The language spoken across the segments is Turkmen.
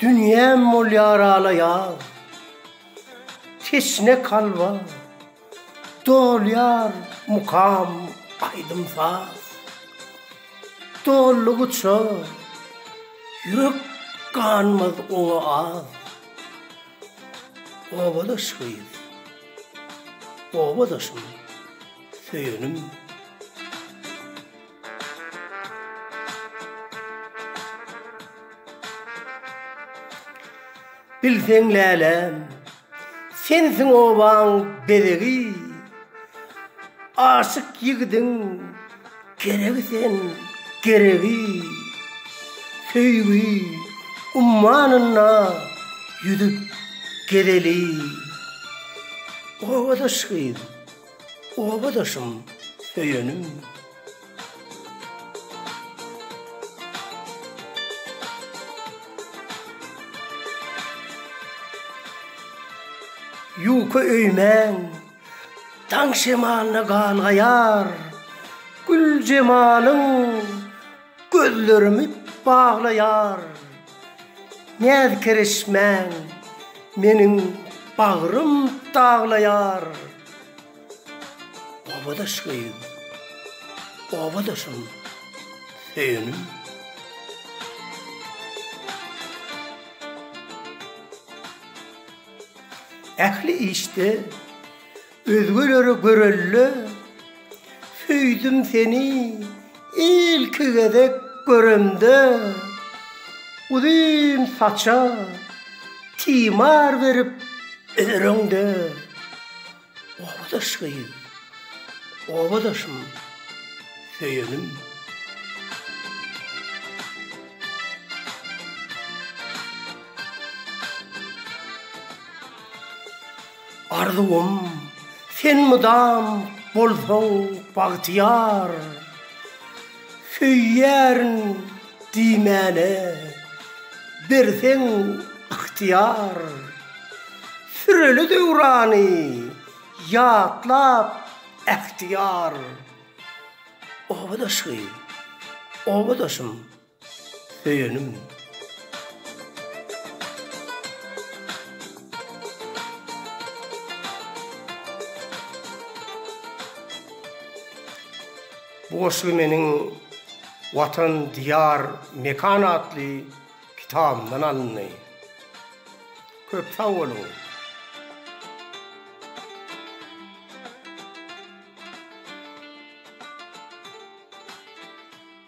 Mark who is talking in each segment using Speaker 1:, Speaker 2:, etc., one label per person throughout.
Speaker 1: Dünýäm bolýar ala-ýaz, teşne kalba, Dolýar mukam, aýdym-saz. Doldugyça, ýürek ganmaz oňa az. Obadaş gyz, obadaşym, söýenim. Bilseň läläm, sensiň obaň bezegi, Aşyk ýigidiň geregi sen, geregi. Söýgi ummanynda ýüzüp gezeli, Obadaş gyz. Obadaşym, söýenim. Ýuka öýmän, daň şemalyna galgaýar gül jemalyň. Gözlerimi baglaýar näz-kerişmäň, Meniň bagrym daglaýar. Obadaş göýüm, obadaşym, söýenim. Ähli işde Özgelere görelde söýdüm seni ilki gezek göremde uzyn saça timar berip öreňde obadaş gyz obadaşym söýenim. Arzuwym, sen mydam bolsaň bagtyýar, Söýýärin diýmäne berseň ygtyýar. Süreli döwrany ýatlap ähtiýar. Obadaşy, obadaşym! Söýenim. Bu goşgy meniň Watan, Diýar, Mekan atly kitabymdan alyndy. Köp sag boluň!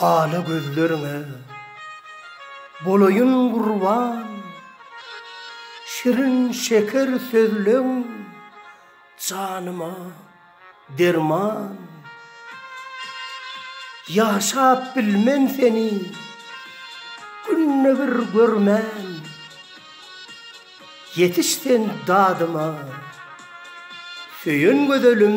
Speaker 1: Ala gözleriňe bolaýyn gurban, Şirin şeker sözleň. Janyma derman. Ýaşap bilmen seni Günde bir görmän. Ýetiş sen dadyma Söýen gözelim.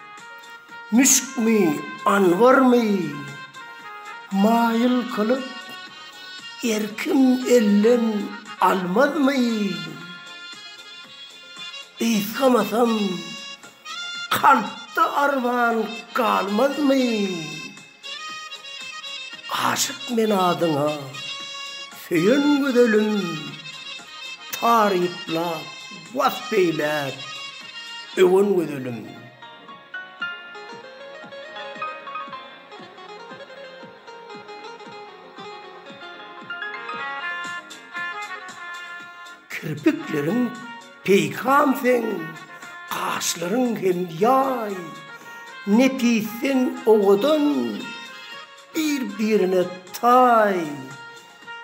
Speaker 1: Müşkmi, anwarmy, maýyl kylyp, erkim elden almazmy? Gysgamasam, kalpda arman galmazmy? Aşyk men adyňa, söýen gözelim, Taryplap, wasp eýläp, öwen gözelim. Kirpikleriň Peýkam seň gaşlaryň hem ýaý, Nepisden owadan, bir-birine taý.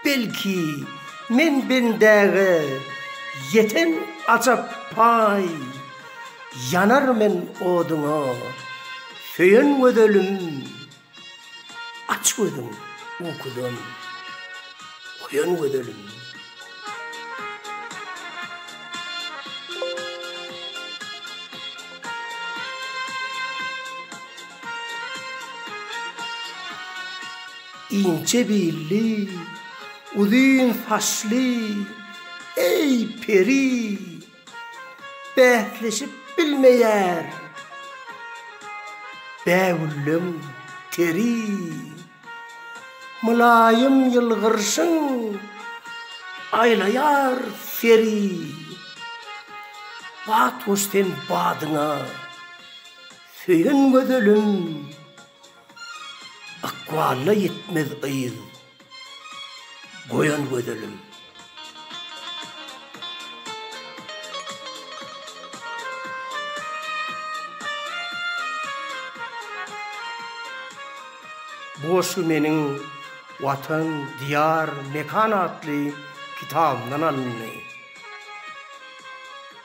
Speaker 1: Belki, men bendäge ýeten ajap paý, Ýanar men oduňa, söýen gözelim. Aç gözüň ukudan oýan gözelim. Inçe billi, uzyn saçly, eý peri! Bäsleşip bilmeýär bägülleň teri. Mylaýym ýylgyrşyň aýlaýar seri. Batgoş sen badyňa söýen gözelim. Ykbalyna ýetmez yz goýan gözelim. Bu goşgy meniň Watan, Diýar, Mekan atly kitabymdan alyndy.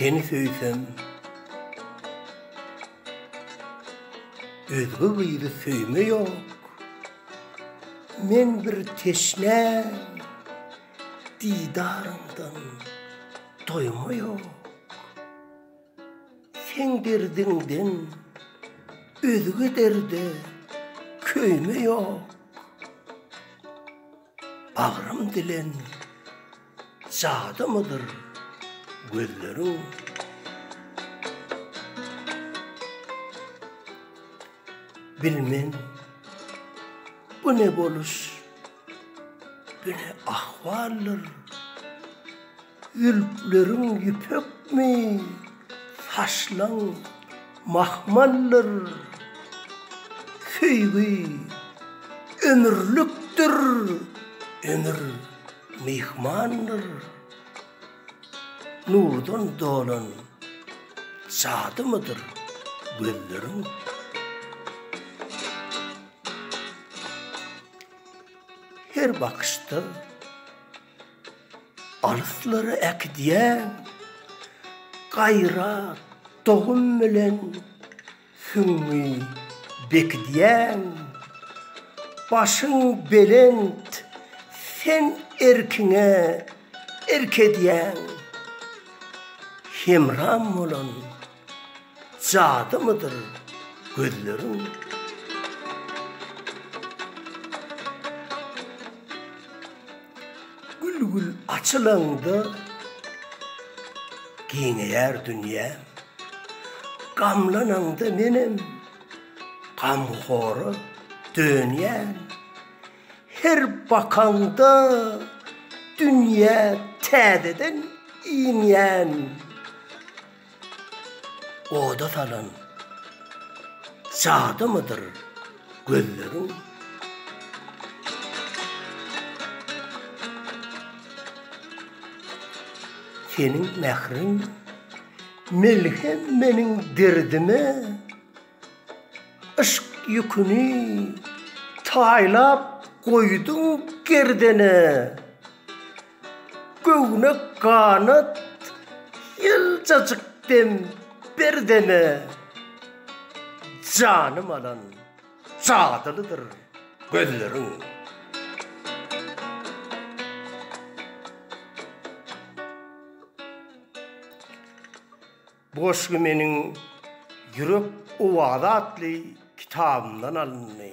Speaker 1: Seni söýsem Özge gyzy söýme ýok Men bir teşne Didaryňdan doýma ýok Seň derdiňden özge derde köýme ýok, Bagrym dilen jadymydyr gözleriň. Bilmen, bu ne boluş, bu ne ahwaldyr. Zülpleriň ýüpekmi, saçlaň mahmaldyr, Söýgi ömürlikdir, ömür myhmandyr, Nurdan dolan jadymydyr gözleriň. Her bakyşda. Alyslara äkidýän gaýrat, dogum bilen süňňi bekidýän. Başyň belent, sen erkiňe erk edýäň. Hemram bolan. Jadymydyr gözleriň? Gül-gül açylanda giňeýär dünýäm. Gamlananda menem gamhora dönýän. Her bakaňda dünýä täzeden iňýän. Oda salan jadymydyr gözleriň? Seniň mähriň melhem meniň derdime, Yşk ýüküni taýlap goýduň gerdene. Göwnek ganat ýyljajyk dem ber deme, Janym alan jadylydyr gözleriň. Bu goşgy meniň Ýürek owazy atly kitabymdan alyndy.